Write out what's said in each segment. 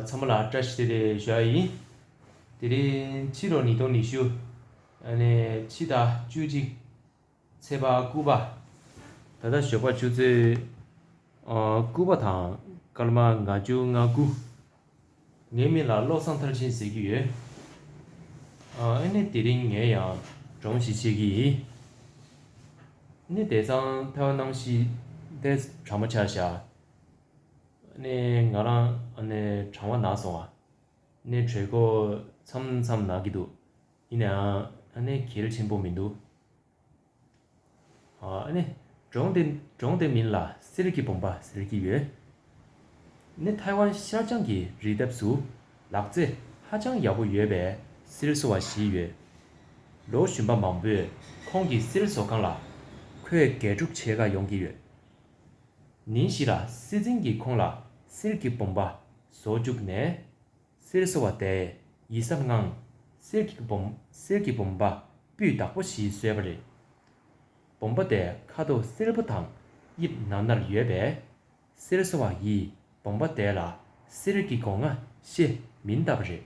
ཚ་མོ་ལ་བཀྲ་ཤིས་བདེ་ལེགས་ཞུ་ཨ་ཡིན། དེ་རིང་ཕྱི་ལོ་ཉིས་སྟོང་ཉི་ཤུ། ཕྱི་ཟླ་བཅུ་གཅིག། ཚེས་པ་དགུ་པ། ད་ལྟ་ཞོགས་པ་ཆུ་ཚོད་དགུ་པ་དང་སྐར་མ་ང་བཅུ་ང་དགུ། ངའི་མིག་ལ་བློ་བཟང་མཐར་ཕྱིན་ཟེར་གྱི་ཡོད། ཨ་ནི་དེ་རིང་ངས་ཡང་སྒྲོམ་ཞིག་བཤད་ཀྱི་ཡིན། ནི་དེ་ཚང་ཐལ་སྣང་ཞིག་ལྟས་གྲ་མ་ཆག་བཞག། ང་རང་གྲང་བ་ནག་སོང་བ། གྲོད་ཁོག་མཚམས་མཚམས་ནག་གི་འདུག། ཡིན་ནའང་གལ་ཆེན་པོ་མི་འདུག། གྲོང་དེ་མིན་ལ་གསེར་གྱི་བུམ་པ་ཟེར་གྱི་ཡོད། ཐའེ་ཝན་ཤར་བྱང་གི་རི་འདབས་སུ་ལག་རྩེད་ཧ་ཅང་ཡག་པོ་ཡོད་པའི་གསེར་བཟོ་བ་བཞི་ཡོད། ལོ་བཞི་པ་མང་པོས་ཁོང་གི་གསེར་བཟོ་ཁང་ལ་ཁོས་འགལ་འཁྲུག་བྱེད་དགའ་ཡོང་གི་ཡོད། ཉིན་བཞི་ལ་སྲིད་འཛིན་གྱིས་ཁོང་ལ་གསེར་གྱི་བུམ་པ་བཟོ་བཅུག་ནས། གསེར་བཟོ་བ་དེས་ཡིད་གཟབ་ངང་གསེར་གྱི་གསེར་གྱི་བུམ་པ་སྤུས་དག་པོ་ཞིག་བཟོས་པ་རེད། བུམ་པ་དེའི་ཁ་དོག་སེར་པོ་དང་དབྱིབས་ནར་ནར་ཡོད་པས། གསེར་བཟོ་བ་ཡིས་བུམ་པ་དེ་ལ་གསེར་གྱི་སྒོ་ང་ཤེས་མི་གདའ་བ་རེད།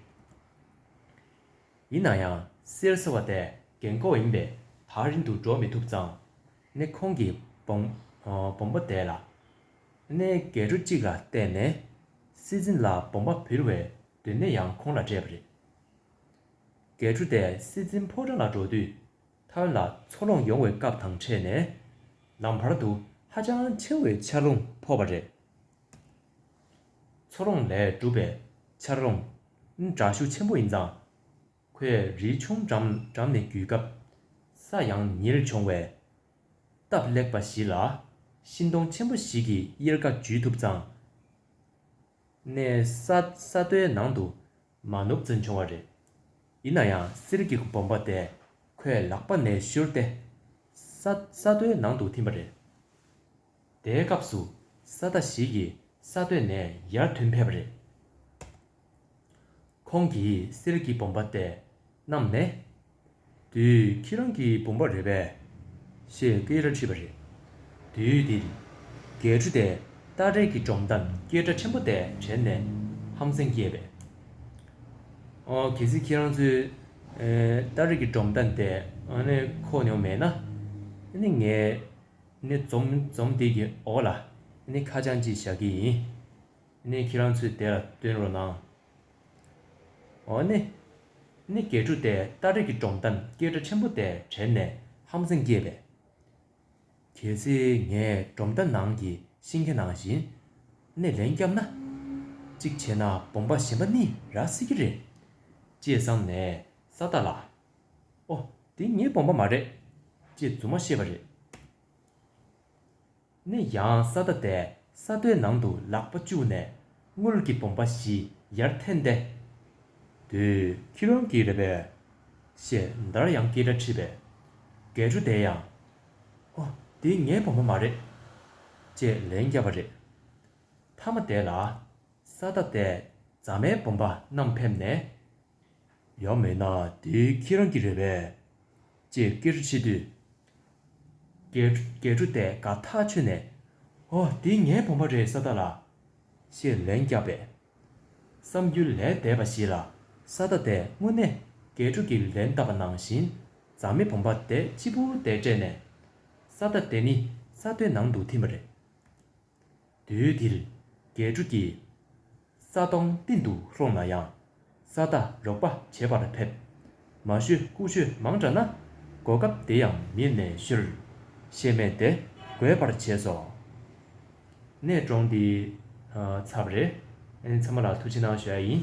ཡིན་ན་ཡང་གསེར་བཟོ་བ་དེ་རྒན་ཁོག་ཡིན་པས་ཐག་རིང་དུ་འགྲོ་མི་ཐུབ་ཙང། ནས་ཁོང་གི་བོང་བུ་བདས་ལ། གནས་འགལ་གྲུ་གཅིག་ལ་བཏེགས་ནས་སྲིད་འཛིན་ལ་བོང་བ་བིར་བའི་དུས་ནས་ཡང་ཁོང་ལ་སྤྲད་པ་རེད། འགལ་གྲུ་དེ་སྲིད་འཛིན་ཕོ་བྲང་ལ་འགྲོ་དུས་ཐོན་ལ་འཚོ་ལོངས་ཡོང་བའི་སྐབས་དང་འཕྲད་ནས་ལམ་བར་དུ་ཧ་ཅང་ཆེ་བའི་ཆར་རླུང་ཕོག་པ་རེད། འཚོ་ལོངས་ལས་གྲུབ་པའི་ཆར་རླུང་འདྲ་ཤུགས་ཆེན་པོ་ཡིན་ཙང། ཁོས་རི་ཆུང་འགྲམ་འགྲམ་ནས་བརྒྱུད་སྐབས། ས་ཡང་ཉིལ་བྱུང་བས། སྟབས་ལེགས་པ་ཞིག་ལ། ཤིང་སྡོང་ཆེན་པོ་ཞིག་གི་གཡེར་ཁ་འཇུས་ཐུབ་ཙང། ནས་ས་ས་རྡོའི་ནང་དུ་མ་ནུབ་ཙམ་བྱུང་བ་རེད། ཡིན་ན་ཡང་གསེར་གྱི་གོམ་པ་དེ་ཁོས་ལག་པ་ནས་བཤུར་ཏེ། ས་ས་རྡོའི་ནང་དུ་འཐིམས་པ་རེད། དེའི་སྐབས་སུ་ས་བདག་ཞིག་གིས་ས་བཏོད་ནས་ཡར་ཐོན་ཕེབས་པ་རེད། ཁོང་གིས་གསེར་གྱི་བུམ་པ་དེ་བསྣམས་ནས། དུས་ཁྱེད་རང་གི་བུམ་པ་རེད་པས། ཞེས་སྐད་རེ་ཁྲིད་པ་རེད། དུས་དེར་རྒྱལ་ཕྲུག་དེས་སྟ་རེ་གི་སྒྲོམ་དང་སྐད་སྒྲ་ཆེན་པོ་དེ་དྲན་ནས་ཧམ་སེམས་སྐྱེས་པས། ཨོ་གལ་སྲིད་ཁྱེད་རང་ཚོས་སྟ་རེ་གི་སྒྲོམ་དང་དེ་ཁོ་མྱོང་མེད་ན། ངས་ནི་འཛོམས་དེ་གི་འོག་ལ་ནི་ཁ་བྱང་ཅིག་བཞག་གི་ཡིན་ནི་ཁྱེད་རང་ཚོས་དེ་ལ་བསྟུན་རོགས་གནང། འོ་ནི་ནི་གས་འཁྲུ་དེ་སྟ་རེ་གི་སྒྲོམ་དང་སྐད་སྒྲ་ཆེན་པོ་དེ་དྲན་ནས་ཧམ་སེམས་སྐྱེས་པས། གལ་སྲིད་ངས་སྒྲོམ་རྟ་ནང་གི་ཤིང་ཁ་ནང་བཞིན་ནི་ལན་བརྒྱབ་ན། གཅིག་བྱས་ན་སྦོམ་པ་གཞན་པ་ནི་རག་སྲིད་ཀྱི་རེད། ཅེས་བསམ་ནས་ས་རྟ་ལ་ཨོ། དེ་ངའི་དགོངས་པ་མ་རེད། ཅེས་རྫུན་མ་ཤེས་པ་རེད། ནས་ཡང་ས་ད་དའི་ས་རྡོའི་ནང་དུ་ལག་པ་བཅུག་ནས་དངུལ་གྱི་བུམ་པ་བཞི་ཡར་འཐེན་ཏེ། དེ། ཁྱེད་རང་གི་རེད་པས། ཞེས་འདར་ཡང་སྐད་སྒྲ་ཁྲིད་པས། འགས་ཆུ་དེ་ཡང། ཨོ། དེ་ངའི་བུམ་པ་མ་རེད། ཅེས་ལན་བརྒྱབ་པ་རེད། མཐའ་མ་དེ་ལ། ས་ད་དའི་རྫ་མའི་བུམ་པ་རྣམས་ཕེབས་ནས། ཡང་མེད་ན་དེ་ཁྱེད་རང་གི་རེད་པས། ཅེས་སྐད་འཕྲོ་བྱེད་དུས། སྐད་འཕྲོ་དེས་དགའ་ཐག་ཆོད་ནས། ཨོ་འདི་ངའི་བུམ་པ་རེད་ས་ད་ལ། ཞེས་ལན་བརྒྱབ་པས། བསམ་རྒྱུ་ལས་འདས་པ་ཞིག་ལ་ས་ད་དེས་དངོས་གནས་སྐད་འཕྲོ་གི་ལན་བཏབ་པ་ནང་བཞིན་རྫ་མེ་བུམ་པ་དེ་སྤྱི་བོ་དེར་སྤྲད་ནས། ས་ད་དེ་ནི་ས་དེའི་ནང་དུ་ཐིམ་པ་རེད། དུས་འདིར་འགལ་འཁྲུལ་གྱི། ས་སྟོང་གཏིང་དུ་ལྷུང་ན་ཡང། ས་བདག་རོགས་པ་བྱེད་པར་ཕེབས། མ་ཞུ་རྐུ་ཆོས་མང་དྲགས་ན། གོ་སྐབས་དེ་ཡང་མིད་ནས་ཤོལ། ཤེས་མེད་དེ་རྒོད་པར་བྱས་སོ། ནས་བཀྲོངས་འདི་ཚབ་རེད། ཚང་མ་ལ་ཐུགས་ཆེ་གནང་ཞུ་ཡ་ཡིན།